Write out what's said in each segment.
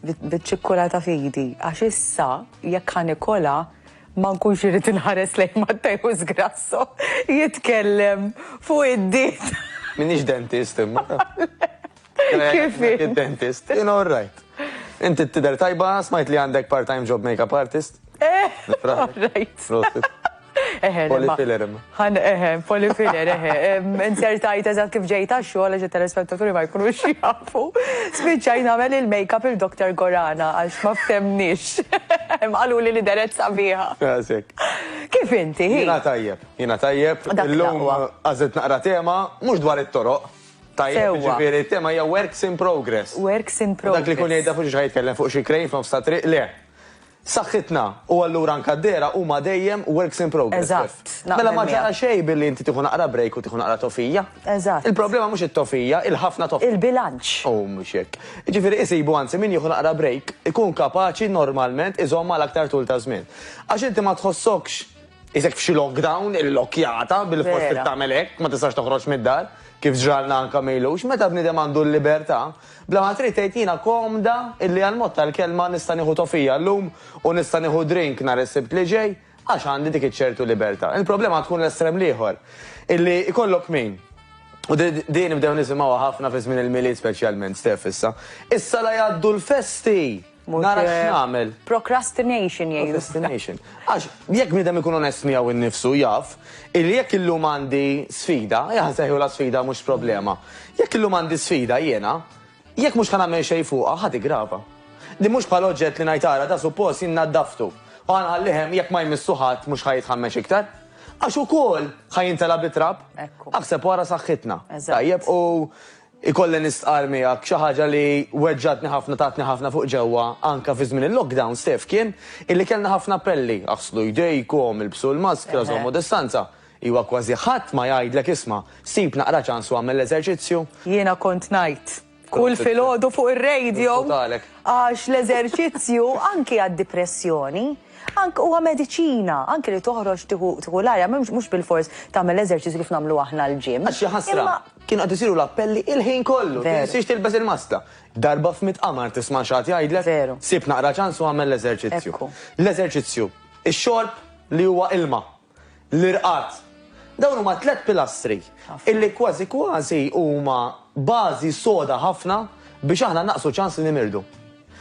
biċ-ċikkula ta' fidi, għax issa jekk ħa nikolha ma nkunx irid inħares lejn Matteus Grasso jitkellem fuq id-diet. Minix dentist imma. Kif? Dentist, in all right. Inti t-tider tajba, smajt li għandek part-time job makeup artist? Eh, all right. Eħe, polifilerm. Għan, eħe, polifiler, eħe. Insertajt eżat kif ġejta xogħol għax telespettaturi ma jkunux jafu. Spiċċaj nagħmel il-makeup il-Dr. Gorana għax ma ftemnix. Għalu li li deret sabiħa. Kif inti? Jina tajjeb, jina tajjeb. Illum għazet naqra tema, mhux dwar it-toroq. Tajjeb, ġifieri, tema hija works in progress. Works in progress. Dak li kun jgħidha fuq xi tkellem fuq xi krejn f'nofs ta' triq le. Saħħitna, u allura anke d-dehra huma dejjem works in progress. Eżatt, naqbel miegħek. Mela ma ġara xejn billi inti tieħu naqra break u tieħu naqra tofija. Eżatt. Il-problema mhux it-tofija, il-ħafna tofija. Il-bilanċ. U mhux hekk. Jiġifieri isibu anzi min jieħu naqra break ikun kapaċi normalment iżomm għal aktar tul ta' żmien. Għax inti ma tħossokx qisek f'xi lockdown, illokkjata, bilfors trid tagħmel hekk, ma tistax toħroġ mid-dar, kif ġralna anke ma ilux. Meta bniedem għandu l-libertà, Bla ma trid tgħid jiena komda illi għall-mod tal-kelma nista' nieħu tofija llum u nista' nieħu drink nhar is-Sibt li ġej għax għandi dik iċ-ċertu libertà. Il-problema tkun l-estrem l-ieħor, illi jkollok min, u din nibdew nisimgħuha ħafna fi żmien il-Milied speċjalment, Steph issa, Issa la jgħaddu l-festi! Nara x'nagħmel. Procrastination jgħidu. Procrastination. Għax jekk bniedem ikun onest miegħu innifsu jaf illi jekk illum għandi sfida, jaħseħu la sfida mhux problema. Jekk illum għandi sfida jiena, jekk mhux ħan nagħmel xejn fuqha ħad igrava. Li mhux bħal oġġett li ngħid ara da suppost jien naddaftu. U għanħallihem jekk ma jmissu ħadd mhux ħajitħammex iktar. Għax ukoll ħajintela bitrab. Aħseb wara saħħitna. Tajjeb u Ikolli nistqarr miegħek xi ħaġa li weġġgħetni ħafna tatni ħafna fuq ġewwa anke fi żmien il-lockdown Steph kien illi kellna ħafna appelli, aħslu jdejkom, ilbsu l-maskra, żommu distanza. Iwa kważi ħadd ma jgħidlek isma', sib naqra ċans u agħmel l-eżerċizzju. Jiena kont ngħid kull filgħodu fuq ir-radio għax l-eżerċizzju anki għad-dipressjoni anki huwa mediċina, anki li toħroġ tieħu l-arja mhux bilfors tagħmel l-eżerċizzju kif nagħmlu aħna l-gym. Għax hija ħasra. Kienu qed isiru l-appelli il-ħin kollu. Tinsiex tilbes il-maska. Darba f'mitt qamar tisma' x'għad jgħidlek. Veru. Sib naqra ċans u agħmel l-eżerċizzju. Ekku. L-eżerċizzju. Ix-xorb li huwa ilma. L-irqad. Dawn huma tliet pilastri illi kważi kważi huma bażi soda ħafna biex aħna nnaqqsu ċans li nimirdu.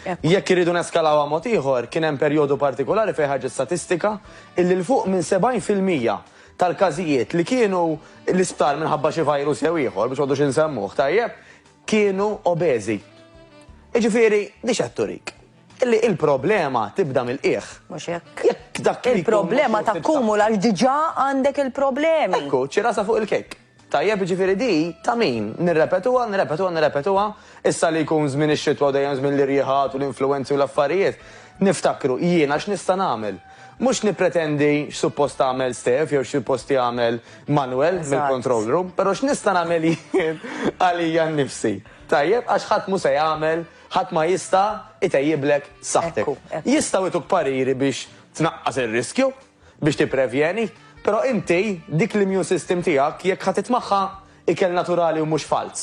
Jekk irridu neskalawha mod ieħor, kien hemm perjodu partikolari fejn ħarġet statistika illi 'l fuq minn 70 fil-mija tal-każijiet li kienu l-isptar minħabba xi virus jew ieħor, biex ma għodux insemmuh, tajjeb, kienu obeżi. Jiġifieri, di x'qed turik? Illi il-problema tibda mill-qiegħ. Mhux hekk. Jekk dak li jkun Il-problema mhux fit-taq- takkumula għax diġà għandek il-problemi. Ekku, ċirasa fuq il-kejk. Tajjeb, jiġifieri di ta' min? Nirrepetuha, nirrepetuha, nirrepetuha? Issa li jkun żmien ix-xitwa u dejjem żmien l-irjiħat u l-influwenzi u l-affarijiet, niftakru, jiena x'nista' nagħmel? Mhux nippretendi x'suppost tagħmel Steph jew x'suppost jagħmel Manuel mill-control room, però x'nista' nagħmel jien għalija nnifsi? Tajjeb, għax ħadd mhu se jagħmel, ħadd ma jista' itejjiblek saħħtek. Jistgħu jtuk pariri biex tnaqqas ir-riskju, biex tipprevjeni, però inti dik l-immune system tiegħek jekk ħa titmagħha ikel naturali u mhux falz,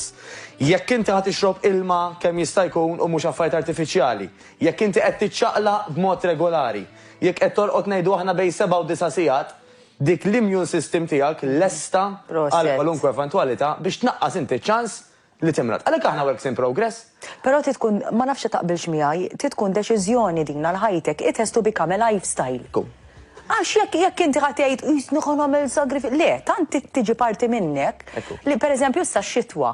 jekk inti ħa tixrob ilma kemm jista' jkun u mhux affarijiet artifiċjali, jekk inti qed tiċċaqlaq b'mod regolari, jekk qed torqod ngħidu aħna bejn seba' u disa' sigħat, dik l-immune system tiegħek lesta għal kwalunkwe eventwalità biex tnaqqas inti ċ-ċans li timrad. Għalhekk aħna works in progress. Però trid tkun, ma nafx se taqbilx miegħi, trid tkun deċiżjoni din għal ħajtek, it has to become a lifestyle. Kum. Għax jekk jekk inti ħa tgħid qisni ħa nagħmel sagrif, le, tant trid tiġi parti minnek Ekku. li pereżempju issa x-xitwa.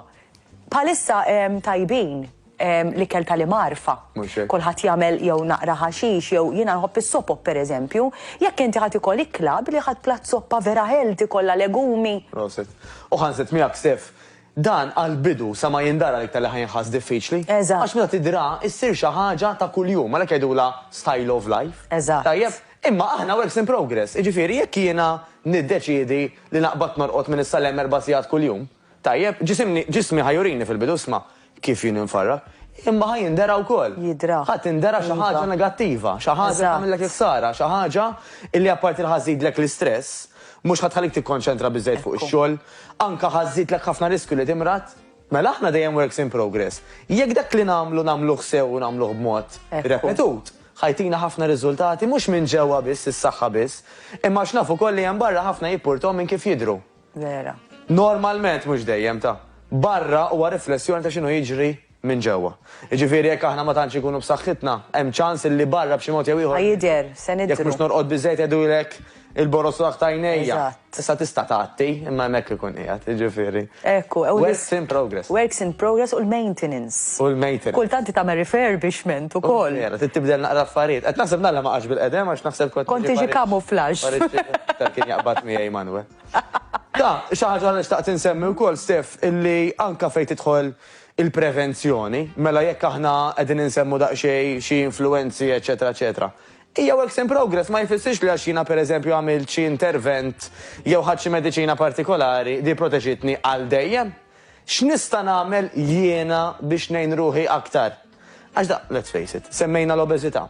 Bħalissa ehm, tajbin ehm, l-ikel tal-imgħarfa. Mhux hekk. Kulħadd jagħmel jew naqra ħaxix jew jiena nħobb is-sopop pereżempju, jekk inti ħadd ikol ikla billi ħadd plat soppa vera healthy kollha legumi. Proset. U ħanset miegħek Stef, Dan għall-bidu sa ma jindara l-iktar li ħa jinħass diffiċli. Eżatt. Għax meta tidra issir xi ħaġa ta' kuljum, għalhekk jgħidulha style of life. Eżatt. Tajjeb? Imma aħna works in progress, jiġifieri jekk jiena niddeċiedi li naqbad norqod minn issa 'l hemm erba' sigħat kuljum, tajjeb, ġisimni, ġismi ħa jurini fil-bidu, isma', kif jien infarrak, imma ħa jindera wkoll. Jidra. Ħa tindera xi ħaġa. Iva. Negattiva, xi ħaġa li tagħmillek il-ħsara, xi ħaġa li apparti li ħa żżidlek l-istress, Mhux ħa tħallik tikkonċentra biżżejjed fuq ix-xogħol. Anke ħa żżidlek ħafna riskju li timrad. Mela aħna dejjem works in progress. Jekk dak li nagħmlu nagħmluh sew u nagħmluh b'mod repetut, ħa jtina ħafna riżultati mhux minn ġewwa biss, is-saħħa biss, imma għax naf ukoll li hemm barra ħafna jippurtom minn kif jidhru. Vera. Normalment mhux dejjem ta'. Barra huwa riflessjoni ta' x'inhu jiġri minn ġewwa. Jiġifieri jekk aħna ma tantx inkunu b'saħħitna, hemm ċans illi barra b'xi mod jew ieħor. Ħa jidher, se nidhru. Jekk mhux norqod biżżejjed jgħidulek il-borożlak ta' għajnejja. Eżatt. Issa tista' tgħatti, imma hemmhekk ikun qiegħed, jiġifieri. Hekk hu. Works in progress. Works in progress u l-maintenance. U l-maintenance. Kultant trid tagħmel refurbishment ukoll. Vera, trid tibdel naqra affarijiet. Qed naħseb nagħlaq ma qgħadx bil-qedem għax naħseb kont. Kont tiġi camouflage. Tal kien jaqbad miegħi Manwe. Ta, xi ħaġa li xtaqt insemmi wkoll, Stef, illi anke fejn tidħol Il-prevenzjoni, mela jekk aħna qegħdin insemmu daqsxejn xi influwenzi eċċetera eċċetera. Hija works in progress ma jfissirx li għax jiena pereżempju għamilt xi intervent jew ħadt xi mediċina partikolari di proteġitni għal dejjem. X'nista' nagħmel jiena biex ngħin ruħi aktar? Għax da, let's face it, semmejna l-obeżità,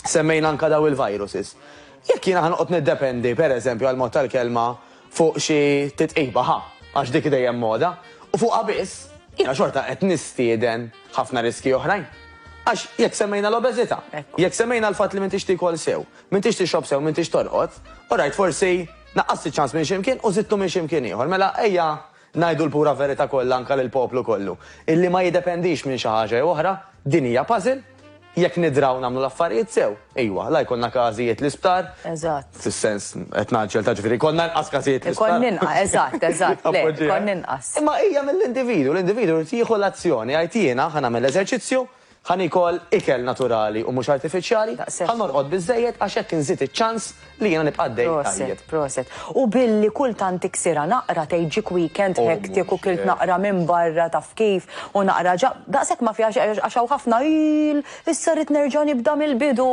semmejna anka daw il-viruses. Jekk jiena ħanqot niddependi, per eżempju, għal mod tal-kelma fuq xi titqiba ħa, għax dik dejjem moda, u fuq biss, jiena xorta qed nistieden ħafna riski oħrajn. Għax jekk semmejna l-obeżità, jekk semmejna l-fatt li m'intix tikol sew, m'intix tixrob sew, m'intix torqod, u rajt forsi naqqas ċans minn ximkien u zittu minn ximkien ieħor. Mela ejja Ngħidu l-pura verità kollha anke lill-poplu kollu, illi ma jiddependix minn xi ħaġa jew oħra, din hija puzzle, jekk nidraw nagħmlu l-affarijiet sew, ejwa, la jkollna każijiet l-isptar, Eżatt. fis-sens, qed ngħaġġel, ta' ġifieri jkollna inqas każijiet l-isptar. Ikollna inqas, eżatt, eżatt, le, ikollna inqas. Imma hija mill-individwu, l-individwu jrid jieħu l-azzjoni, jgħid jiena ħa nagħmel l-eżerċizzju, Ħa niekol ikel naturali u mhux artifiċjali, ħa norqod biżżejjed għax hekk inżid iċ-ċans li jiena nibqa' għaddej tajjeb. Proset, proset. U billi kultant tiksirha naqra tgħid ġiek weekend hectic u kilt naqra minn barra taf kif u naqra ġa, daqshekk ma fiha xejn għax hawn ħafna iill, issa rrid nerġa' nibda mill-bidu.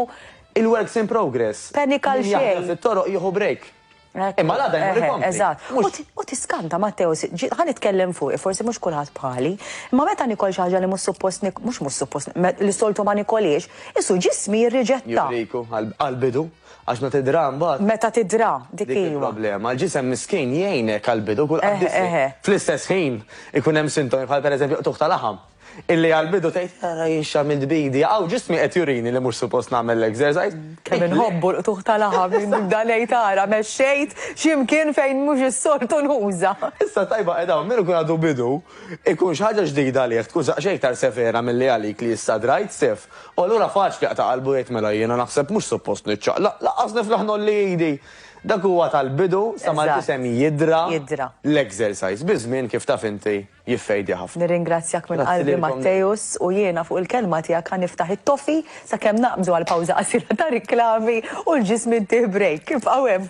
Il-works in progress. Panika għal xejn. Min jaħdem fit-toroq jieħu break. Imma l-għada jmur ikompli. Eżatt. U tiskanta Matteo, ħa nitkellem fuq, forsi mhux kulħadd bħali, imma meta nikol xi ħaġa li mhux suppost mhux mhux suppost li soltu ma nikoliex, isu ġismi jirriġetta. Juriku għall-bidu, għax meta tidra mbagħad. Meta tidra, dik hi. Dik problema. L-ġisem miskin jgħinek għall-bidu kull qaddis. Fl-istess ħin ikun hemm sintomi bħal pereżempju qtugħ ta' laħam. Illi għall-bidu tgħid ara jien x'għamilt b'idi, hawn ġismi qed jurini li mhux suppost nagħmel l-exercise. Kemm inħobbu l-qtugħ ta' laħam li nibda ngħid ara mexxejt xi mkien fejn mhux is-soltu nuża. Issa t-tajba qiegħda hawn, min ikun għadu bidu, ikun xi ħaġa ġdida għalih, tkun xi iktar severa milli għalik li issa drajt sif. U allura faċli jaqta' qalbu u jgħid mela jiena naħseb mhux suppost niċċaqlaq, lanqas niflaħ ngħolli idi. Dak huwa tal-bidu sa ma l-isem jidhra l-exercise. Biż-żmien kif taf inti. jiffejdja ħafna. Nirringrazzjak minn qalbi Matteus u jiena fuq il-kelma tiegħek ħa niftaħ it-toffee sakemm naqbżu għal pawża qasira ta' riklami u l-ġism ittih break. Ibqgħu hemm.